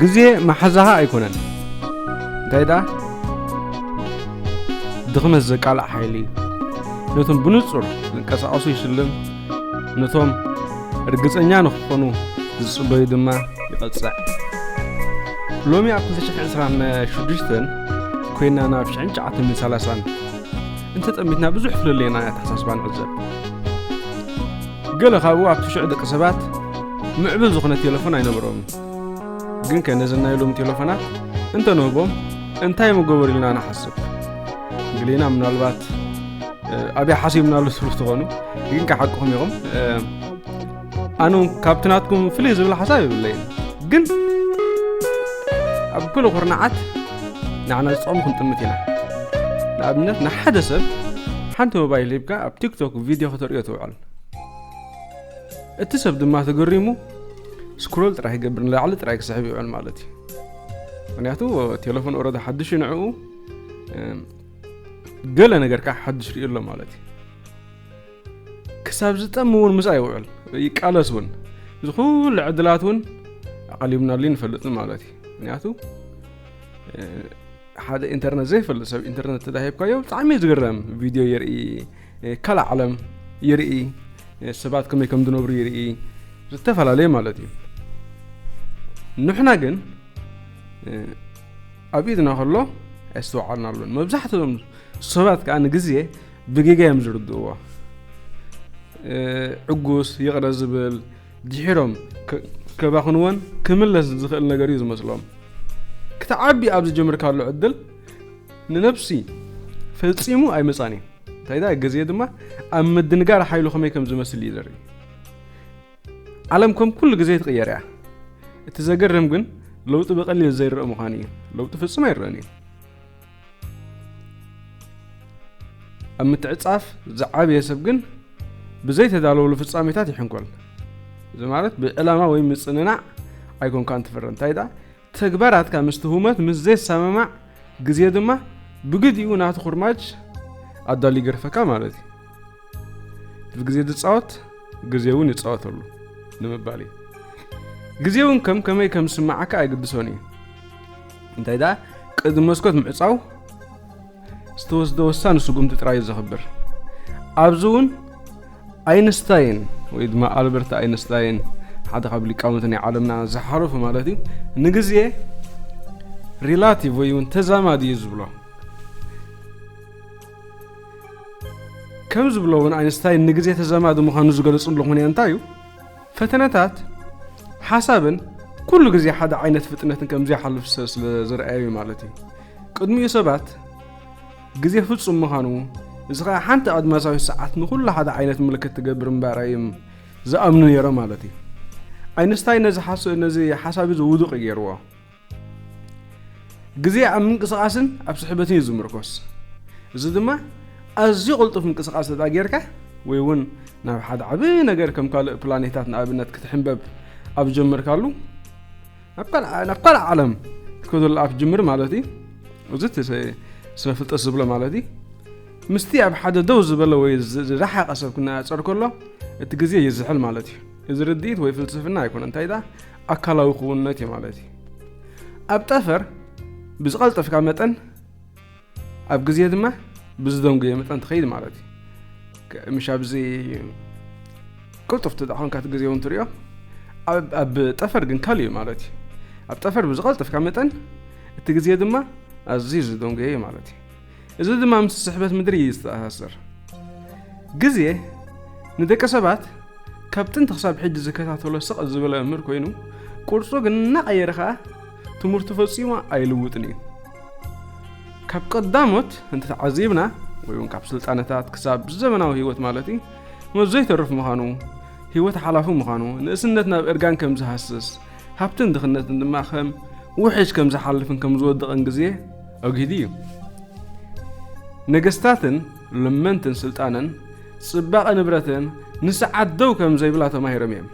ግዜ ማሓዛኻ ኣይኮነን እንታይ ደኣ ድኽመት ዘቃልዕ ሓይሊ እዩ ነቶም ብንጹር ዝንቀሳቐሱ ይሽልም ነቶም እርግጸኛ ንክኾኑ ዝጽበዩ ድማ ይቐጽዕ ሎሚ ኣብ 226 ኮይና ናብ 1930 እንተጠሚትና ብዙሕ ፍለለየና ኣተሓሳስባ ንዕዘብ ገለ ካብኡ ኣብቲ ሽዑ ደቂ ሰባት ምዕቡል ዝኾነ ቴለፎን ኣይነበሮምን ግን ከ ነዘን ናይ ሎም ቴለፎናት እንተ ንህቦም እንታይ ምገበሩ ኢልና ንሓስብ ግሌና ምናልባት ኣብያ ሓሲብናሉ ትብሉ ትኾኑ ግን ክሓቅኹም ኢኹም ኣነ ካብቲ ናትኩም ፍልይ ዝብል ሓሳብ የብለይን ግን ኣብ ኩሉ ኩርናዓት ንዓና ዝጠቕሙ ክንጥምት ኢና ንኣብነት ንሓደ ሰብ ሓንቲ ሞባይል ሂብካ ኣብ ቲክቶክ ቪድዮ ከተርእዮ ትውዕል ይብሃል። እቲ ሰብ ድማ ተገሪሙ ስክሮል ጥራይ ይገብር ንላዕሊ ጥራይ ክስሕብ ይውዕል ማለት እዩ ምክንያቱ ቴሌፎን ኦረዳ ሓድሽ እዩ ንዕኡ ገለ ነገር ከዓ ሓድሽ ሪኡ ኣሎ ማለት እዩ ክሳብ ዝጠም እውን ምስኣ ይውዕል ይቃለስ እውን እዚ ኩሉ ዕድላት እውን ኣቐሊብናሉ ንፈልጥን ማለት እዩ ምክንያቱ ሓደ ኢንተርነት ዘይፈልጥ ሰብ ኢንተርነት ተዳሂብካዮ ብጣዕሚ እዩ ዝግረም ቪድዮ የርኢ ካልእ ዓለም ይርኢ ሰባት ከመይ ከም ዝነብሩ ይርኢ ዝተፈላለየ ማለት እዩ ንሕና ግን ኣብ ኢድና ከሎ ኣይስተውዓልና ኣሎን መብዛሕትኦም ሰባት ከዓ ንግዜ ብጌጋ እዮም ዝርድእዎ ዕጉስ ይቕረ ዝብል ድሒሮም ከባኽንዎን ክምለስ ዝኽእል ነገር እዩ ዝመስሎም ክትዓቢ ኣብ ዝጀምርካሉ ዕድል ንነብሲ ፈጺሙ ኣይመጻን እዩ። እንታይዳ ግዜ ድማ ኣብ ምድንጋር ሓይሉ ከመይ ከም ዝመስል እዩ ዘርኢ። ዓለም ከም ኩሉ ግዜ ትቕየር እያ። እቲ ዘገርም ግን ለውጢ ብቐሊል ዘይረእ ምዃኑ እዩ። ለውጢ ፍጹም ኣይረእን እዩ። ኣብ ምትዕጻፍ ዝዓበየ ሰብ ግን ብዘይተዳለወሉ ፍጻሜታት ይሕንኮል። እዚ ማለት ብዕላማ ወይ ምጽንናዕ ኣይኮንካን ትፍረ እንታይ ደኣ ተግባራትካ ምስቲ ህሞት ምስ ዘይሰማማዕ ግዜ ድማ ብግዲኡ ናቱ ኩርማጅ ኣዳልዩ ይገርፈካ ማለት እዩ። እቲ ግዜ ዝጻወት ግዜ እውን ይጻወተሉ ንምባል እዩ። ግዜ እውን ከም ከመይ ከም ዝስምዓካ ኣይግድሶን እዩ። እንታይ ደኣ ቅድሚ መስኮት ምዕጻው ዝተወስደ ወሳኒ ስጉምቲ ጥራይ እዩ ዘኽብር ኣብዚ እውን ኣይንስታይን ወይ ድማ ኣልበርት ኣይንስታይን ሓደ ካብ ሊቃውንቲ ናይ ዓለምና ዝሓለፉ ማለት እዩ ንግዜ ሪላቲቭ ወይ እውን ተዛማዲ እዩ ዝብሎ ከም ዝብሎ እውን ኣይንስታይን ንግዜ ተዛማዲ ምዃኑ ዝገለፅሉ ምክንያት እንታይ እዩ ፈተነታት ሓሳብን ኩሉ ግዜ ሓደ ዓይነት ፍጥነትን ከም ዘይሓልፍ ሰብ ስለ ዝረኣዩ ማለት እዩ። ቅድሚኡ ሰባት ግዜ ፍጹም ምዃኑ እዚ ኸኣ ሓንቲ ኣድማሳዊት ሰዓት ንኹሉ ሓደ ዓይነት ምልክት ትገብር እምበኣር እዮም ዝኣምኑ ነይሮም ማለት እዩ። ኣይንስታይ ነዚ ሓሳብ እዚ ውዱቕ ገይርዎ። ግዜ ኣብ ምንቅስቓስን ኣብ ስሕበትን እዩ ዝምርኮስ እዚ ድማ ኣዝዩ ቅልጡፍ ምንቅስቓስ እታ ጌርካ ወይ እውን ናብ ሓደ ዓብ ነገር ከም ካልእ ፕላኔታት ንኣብነት ክትሕንበብ ኣብ ጀመርካሉ ናብ ካልእ ዓለም ክትከደሉ ኣብ ጅምር ማለት እዩ እዚ ስነ ፍልጠት ዝብሎ ማለት እዩ ምስቲ ኣብ ሓደ ደው ዝበለ ወይ ዝረሓቐ ሰብ ክነፃፀር ከሎ እቲ ግዜ ይዝሕል ማለት እዩ እዚ ርድኢት ወይ ፍልስፍና ኣይኮነ እንታይ ዳ ኣካላዊ ክውንነት እዩ ማለት እዩ። ኣብ ጠፈር ብዝቐልጠፍካ መጠን ኣብ ግዜ ድማ ብዝደንጉየ መጠን ትኸይድ ማለት እዩ። ምሽ ኣብዚ ቅልጡፍ ተዳኾንካ እቲ ግዜ እውን ትሪኦ ኣብ ጠፈር ግን ካልእ እዩ ማለት እዩ ኣብ ጠፈር ብዝቐልጥፍካ መጠን እቲ ግዜ ድማ ኣዝዩ ዝደንጎየ እዩ ማለት እዩ እዚ ድማ ምስ ስሕበት ምድሪ እዩ ዝተኣሳሰር። ግዜ ንደቂ ሰባት ካብ ጥንቲ ክሳብ ሕጂ ዝከታተሎ ስቕ ዝበለ መምህር ኮይኑ ቅርጹ ግን እናቐየረ ከኣ ትምህርቱ ፈጺሙ ኣይልውጥን እዩ። ካብ ቀዳሞት እንተተዓዚብና ወይ እውን ካብ ስልጣነታት ክሳብ ዘመናዊ ህይወት ማለት እዩ መዞ ይተርፍ ምዃኑ ህይወት ሓላፉ ምዃኑ ንእስነት ናብ እርጋን ከም ዝሃስስ ሃብትን ድኽነትን ድማ ከም ውሕጅ ከም ዝሓልፍን ከም ዝወድቕን ግዜ ኣግሂዱ እዩ። ነገስታትን ለመንትን ስልጣንን ጽባቐ ንብረትን ንሰዓት ደው ከም ዘይብላ ተማሂሮም እዮም።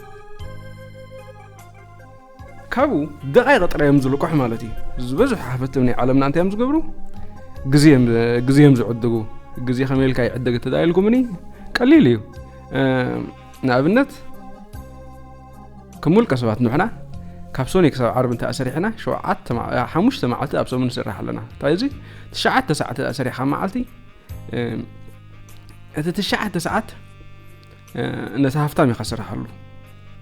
ካብኡ ደቓይቕ ጥራይ እዮም ዝልቅሑ ማለት እዩ። ዝበዝሑ ሓፈትም ናይ ዓለምና እንታይ እዮም ዝገብሩ? ግዜ እዮም ዝዕድጉ። ግዜ ከመይ ኢልካ ይዕደግ እተዳኢልኩምኒ ቀሊል እዩ። ንኣብነት ከም ውልቀ ሰባት ንሕና ካብ ሶኒ ክሳብ ዓርቢ እንተ ኣሰሪሕና ሸውዓተ ሓሙሽተ መዓልቲ ኣብ ሰሙን ንስራሕ ኣለና እንታይ እዚ ትሽዓተ ሰዓት እንተ ሰሪሕካ መዓልቲ እቲ ትሽዓተ ሰዓት ነቲ ሃፍታም ኢኻ ስራሓሉ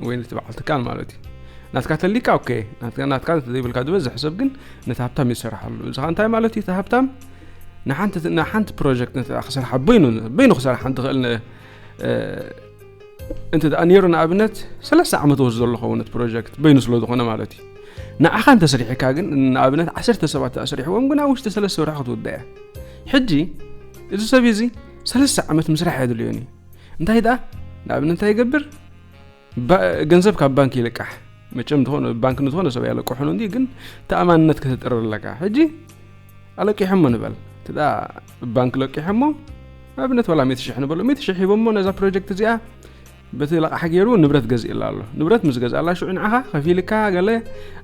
ወይ ነቲ በዓል ትካል ማለት እዩ ናትካ ተሊካ ኦኬ ናትካ ዘይብልካ ዝበዝሕ ሰብ ግን ነቲ ሃብታም ይሰራሓሉ እዚ ኸ እንታይ ማለት እዩ እቲ ሃብታም ንሓንቲ ፕሮጀክት ክሰርሓ በይኑ በይኑ ክሰርሓ እንትኽእል እንተ ደኣ ነይሩ ንኣብነት ሰለስተ ዓመት ወስዶ ኣሎ ኸውን እቲ ፕሮጀክት በይኑ ስለ ዝኾነ ማለት እዩ ንዓኻ እንተስሪሕካ ግን ንኣብነት ዓሰርተ ሰባት ኣስሪሕዎም ግን ኣብ ውሽጢ ሰለስተ ወርሒ ክትውዳእ እያ ሕጂ እዚ ሰብ እዚ ሰለስተ ዓመት ምስራሕ የድልዮን እዩ እንታይ ደኣ ንኣብነት እንታይ ይገብር ገንዘብ ካብ ባንክ ይልቃሕ መቸም ዝኾነ ባንክ ንዝኾነ ሰብ ያለቅሑን እንዲ ግን ተኣማንነት ከተጥርር ኣለካ ሕጂ ኣለቂሖሞ ንበል እቲ ባንክ ለቂሖሞ ኣብነት ዋላ ሚእቲ ሽሕ ንበሎ ሚእቲ ሽሕ ሂቦሞ ነዛ ፕሮጀክት እዚኣ በቲ ለቕሓ ገይሩ ንብረት ገዚእላ ኣሎ ንብረት ምስ ገዛእላ ሽዑ ንዓኻ ከፊልካ ገለ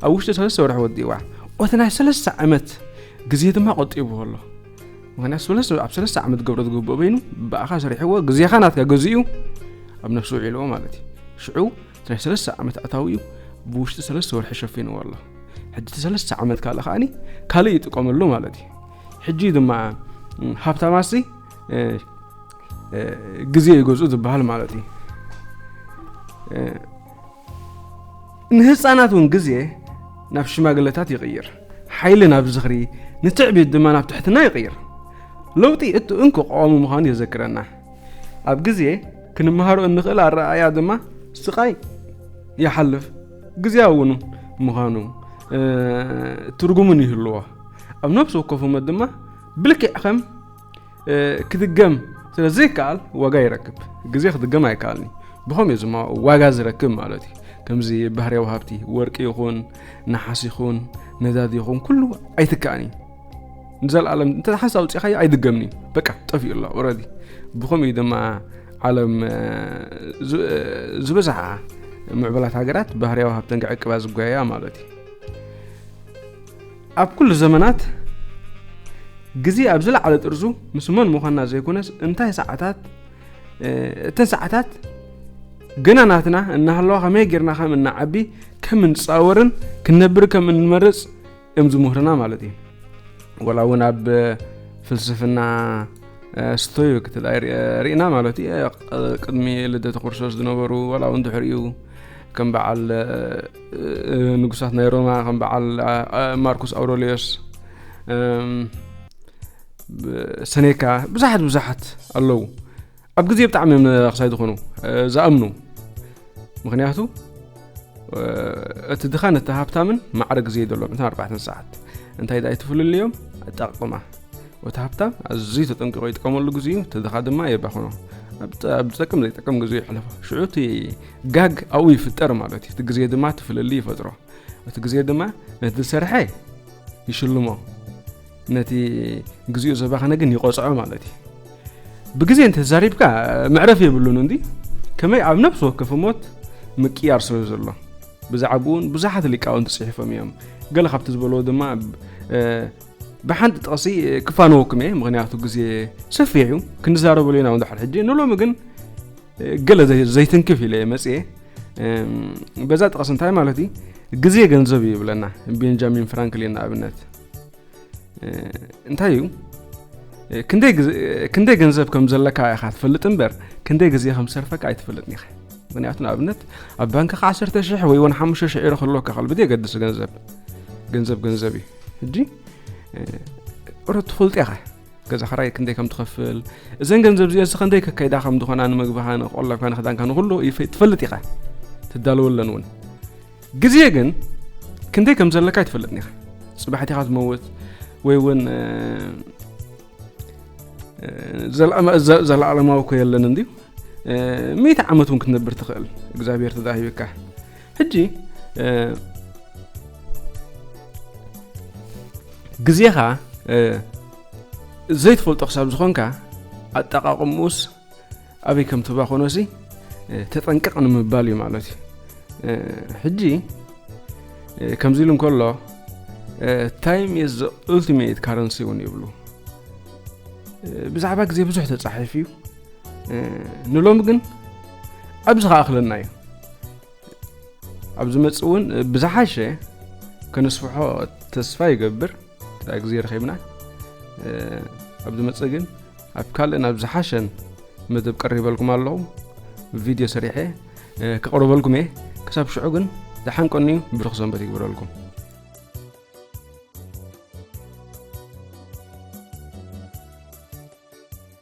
ኣብ ውሽጢ ሰለስተ ወርሒ ወዲእዋ ኦቲ ናይ ሰለስተ ዓመት ግዜ ድማ ቆጢብዎ ኣሎ ምክንያቱ ኣብ ሰለስተ ዓመት ገብሮ ዝግብኦ በይኑ ብኣኻ ሰሪሕዎ ግዜኻ ናትካ ገዚኡ ኣብ ነፍሲ ውዒልዎ ማለት እዩ ሽዑ ናይ ሰለስተ ዓመት ኣታዊኡ ብውሽጢ ሰለስተ ወርሒ ሸፊንዎ ኣሎ ሕጂ እቲ ሰለስተ ዓመት ካልእ ከዓኒ ካልእ ይጥቀመሉ ማለት እዩ ሕጂ ድማ ሃብታማሲ ግዜ ይገዝኡ ዝበሃል ማለት እዩ ንህፃናት እውን ግዜ ናብ ሽማግለታት ይቕይር ሓይሊ ናብ ዝኽሪ ንትዕቢት ድማ ናብ ትሕትና ይቕይር ለውጢ እቲ እንኮ ቀዋሚ ምዃኑ የዘክረና ኣብ ግዜ ክንመሃሮ እንኽእል ኣረኣእያ ድማ ስቓይ ይሓልፍ ግዜያውን ምዃኑ ትርጉምን ይህልዎ ኣብ ነብሲ ወከፍሞት ድማ ብልክዕ ከም ክድገም ስለ ዘይከኣል ዋጋ ይረክብ ግዜ ክድገም ኣይከኣልኒ ብኸምኡ ዝማ ዋጋ ዝረክብ ማለት እዩ ከምዚ ባህርያዊ ሃብቲ ወርቂ ይኹን ነሓስ ይኹን ነዳዲ ይኹን ኩሉ ኣይትከኣን እዩ ንዘለኣለም እንተ ሓንሳ ውፅኢኻዮ ኣይድገምን እዩ በቃ ጠፊኡ ኣሎ ኦረዲ ብኸምኡ ድማ ዓለም ዝበዝሓ ምዕበላት ሃገራት ባህርያዊ ሃብተን ክዕቅባ ዝጓያ ማለት እዩ ኣብ ኩሉ ዘመናት ግዜ ኣብ ዝለዓለ ጥርዙ ምስ መን ምዃንና ዘይኮነስ እንታይ ሰዓታት እተን ሰዓታት ግና ናትና እናሃለዋ ከመይ ጌርና ከም እናዓቢ ከም እንፃወርን ክንነብር ከም እንመርፅ እዮም ዝምህሩና ማለት እዩ ወላ እውን ኣብ ፍልስፍና ስቶዩ ክትል ርኢና ማለት እዩ ቅድሚ ልደተ ክርስቶስ ዝነበሩ ወላ እውን ድሕሪኡ ከም በዓል ንጉሳት ናይ ሮማ ከም በዓል ማርኩስ ኣውሮሊዮስ ሰኔካ ብዙሓት ብዙሓት ኣለዉ ኣብ ግዜ ብጣዕሚ መራኽሳይ ዝኾኑ ዝኣምኑ ምክንያቱ እቲ ድኻን እቲ ሃብታምን ማዕረ ግዜ ይደሎም እታ ኣርባዕተን ሰዓት እንታይ ዳይ ትፍልልዮም ኣጠቃቅማ እቲ ሃብታም ኣዝዩ ተጠንቂቆ ይጥቀመሉ ግዜኡ እቲ ድኻ ድማ የባኽኖ ኣብ ዝጠቅም ዘይጠቅም ግዜ ይሕለፎ ሽዑ እቲ ጋግ ኣብኡ ይፍጠር ማለት እዩ እቲ ግዜ ድማ እቲ ፍልልይ ይፈጥሮ እቲ ግዜ ድማ ነቲ ዝሰርሐ ይሽልሞ ነቲ ግዚኡ ዘባኸነ ግን ይቆፅዖ ማለት እዩ ብግዜ እንተዛሪብካ መዕረፍ የብሉን እንዲ ከመይ ኣብ ነብሲ ወከፍ ሞት ምቅያር ስለ ዘሎ ብዛዕባኡ እውን ብዙሓት ሊቃውንቲ ፅሒፎም እዮም ገለ ካብቲ ዝበለዎ ድማ ብሓንቲ ጥቕሲ ክፋነወኩም እየ ምክንያቱ ግዜ ሰፊሕ እዩ ክንዛረበሉ ኢና ንድሕር ሕጂ ንሎሚ ግን ገለ ዘይትንክፍ ኢለ መፅየ በዛ ጥቕሲ እንታይ ማለት እዩ ግዜ ገንዘብ እዩ ይብለና ቤንጃሚን ፍራንክሊን ንኣብነት እንታይ እዩ ክንደይ ገንዘብ ከም ዘለካ ኢኻ ትፈልጥ እምበር ክንደይ ግዜ ከም ሰርፈካ ኣይትፈልጥን ኢኻ ምክንያቱ ንኣብነት ኣብ ባንክካ 1 ሽሕ ወይ ውን 5 ሽሕ ኢሮ ክህልወካ ከል ብዘየገድስ ገንዘብ ገንዘብ ገንዘብ እዩ ሕጂ ቁረ ትፈልጥ ኢኻ ገዛ ክራይ ክንደይ ከም ትኸፍል እዘን ገንዘብ እዚኦ ስኸንደይ ከካይዳ ከም ዝኾና ንምግብኻ ንቆላብካ ንክዳንካ ንኹሉ ትፈልጥ ኢኻ ትዳለወለን እውን ግዜ ግን ክንደይ ከም ዘለካ ኣይትፈልጥን ኢኻ ፅባሕቲ ኢኻ ትመውት ወይ እውን ዘለኣለማዊ ኮ የለን እንድዩ ሚእቲ ዓመት እውን ክትነብር ትኽእል እግዚኣብሔር ተዳሂብካ ሕጂ ግዜኻ ዘይትፈልጦ ክሳብ ዝኾንካ ኣጠቃቕምኡስ ኣበይ ከም ትባኾኖሲ ተጠንቀቕ ንምባል እዩ ማለት እዩ ሕጂ ከምዚ ኢሉ እንከሎ ታይም ኢዝ ዘ ኡልቲሜት ካረንሲ እውን ይብሉ ብዛዕባ ግዜ ብዙሕ ተፃሒፍ እዩ ንሎሚ ግን ኣብዚ ከኣኽለና እዩ ኣብ ዝመፅእ እውን ብዝሓሸ ከነስፍሖ ተስፋ ይገብር እንተ ግዜ ረኺብና ኣብ ዝመፅእ ግን ኣብ ካልእን ኣብ ዝሓሸን መደብ ቀሪበልኩም ኣለኹ ቪድዮ ሰሪሐ ክቕርበልኩም እየ ክሳብ ሽዑ ግን ዝሓንቀኒ እዩ ብርኽ ሰንበት ይግብረልኩም